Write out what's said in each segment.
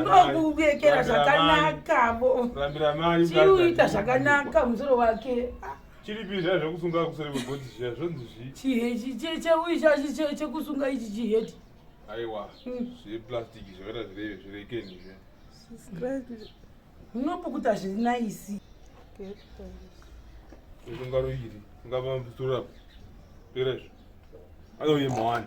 ndokuekera zvakanakavo chiuita zvakanaka musoro wake chiripi zviya zvekusunga kuseri kwegoti zviya zvonzi zvii chihechi cheuyi chachi chekusunga ichi chiheti aiwa hmm. zveplastic zvakaita zvireve zvirekeni zviya unopukuta zviri naisi usunga roiri ungava mvuturapo perezvo anoyemawani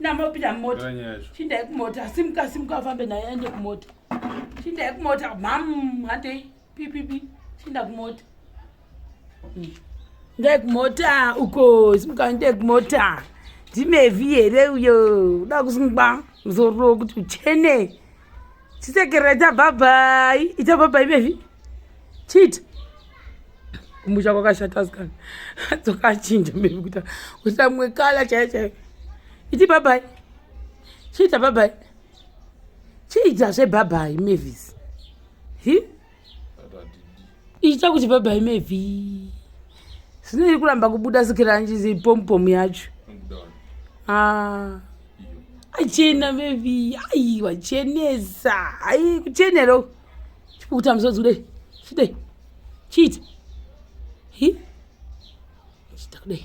namopinda mumota chindai kumota simuka simuka afambe naye aende kumota chindai kumota mam handei pipipi chinda kumota hmm. ndai kumota uko simuka ndai kumota ndimevi here uyo uda kusungwa muzoro kuti uchene chisekerera ita bhabhai ita bhabhai bevi chiita kumusha kwakashata asikana dzokachinja bevi kuita kuita mumwe kala chaiyo chaiyo iti bhabhai chiita bhabhai chiita zvebhabhai mavis hi ichita kuti baba imevhi zvino iri kuramba kubuda sikiranjizi pompomu yacho ah. achena mevhi ai wachenesa ai kuchenero chipukuta muzodzi kudai chidai chiita hi chita kudai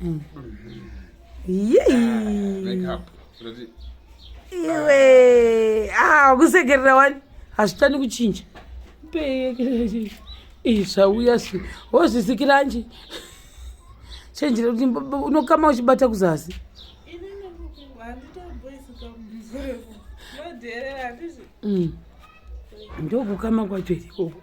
mm. Ah, iwe ah, kusekerera wani hazvitani kuchinja zvauya si wozvisikiranji chenjera kuti unokama uchibata kuzasi mm. ndokukama kwacho ikoko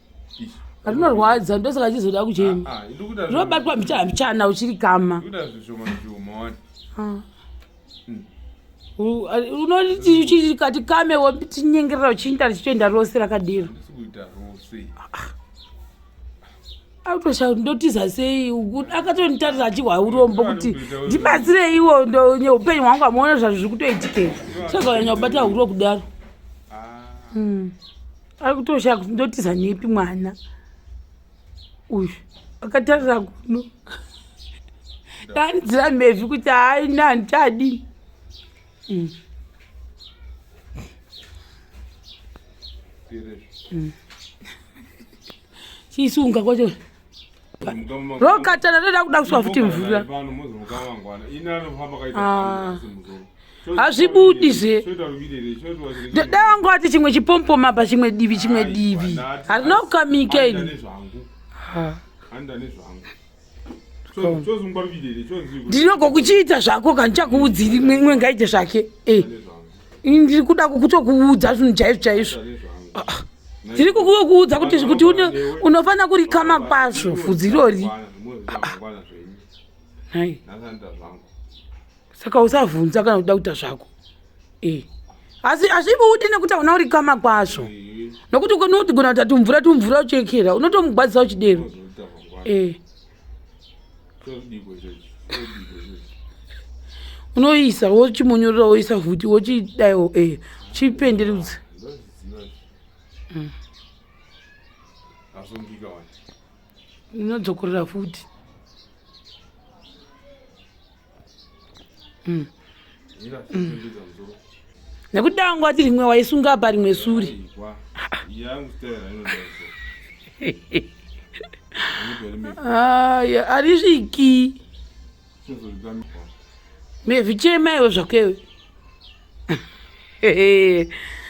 rinorwadza ndosaka achizoda kuchema ah, ah, zvobatwa mbichana uchiri kama unoti chii kati kame wotinyengerera uchiinda richitoenda rose rakadiro autoshau ndotiza sei akatonditarisa achihwa urombo kuti ndibatsire iwo upenyu hwangu amuona zvazvo zviri kutoitikei saka anyanya kubata huro kudaro ah. hmm. akutoshaya kuti ndotiza nepi mwana uyu akatarira kuno danidzira mhezvi kuti haina handichadii mm. mm. chiisunga kwacho rokatana toda kuda kuswa futi mvura hazvibudi zve ndoda wangu ati chimwe chipompoma pa chimwe divi chimwe divi harina kukamika ini ndinogokuchiita zvako ka ndichakuudzi rimwe ngaite zvake eh. ndiri kuda kutokuudza zvinhu chaizvo chaizvo ah, ah. ndiri kukuudza kuti kuti unofanira kurikama kwazvo fudzi irori ah, saka usavhunza kana kuda kuita zvako e asi azvibude nekuti hauna uri kama kwazvo nokuti unotigona kuti atumvura tumvura uchekera unotomugwadzisa uchidero e unoisa wochimonyorora woisa vhuti wochidaiwo e eh, chipenderudza mm. inodzokorera futi mm. mm. nekuti danga wati rimwe waisunga apa rimwe suri aya arisviki mezvichema iwe zvakewe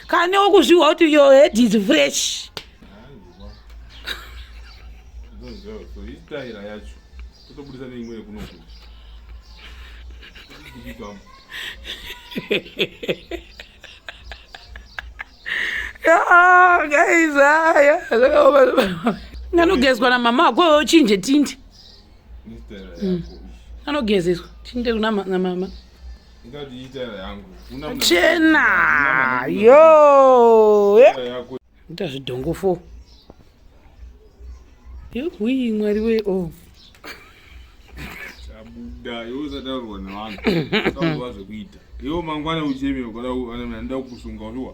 kane okuzviwa kuti your head is fresh anogezwa namama ako ochinje tindi anogezeswa tinde namama chena yo ita zvidhongo fo yehwii mwari we o oh. chabuda iwe usataurwa nevanhu auva zvekuita iwe mangwana ucheme ukada anoda kukusunga uliwa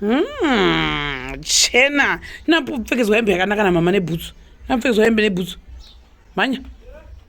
Hmm, chena napfekedzwa hembe yakanaka namama nebhutsu napfekedzwa hembe nebhutsu mhanya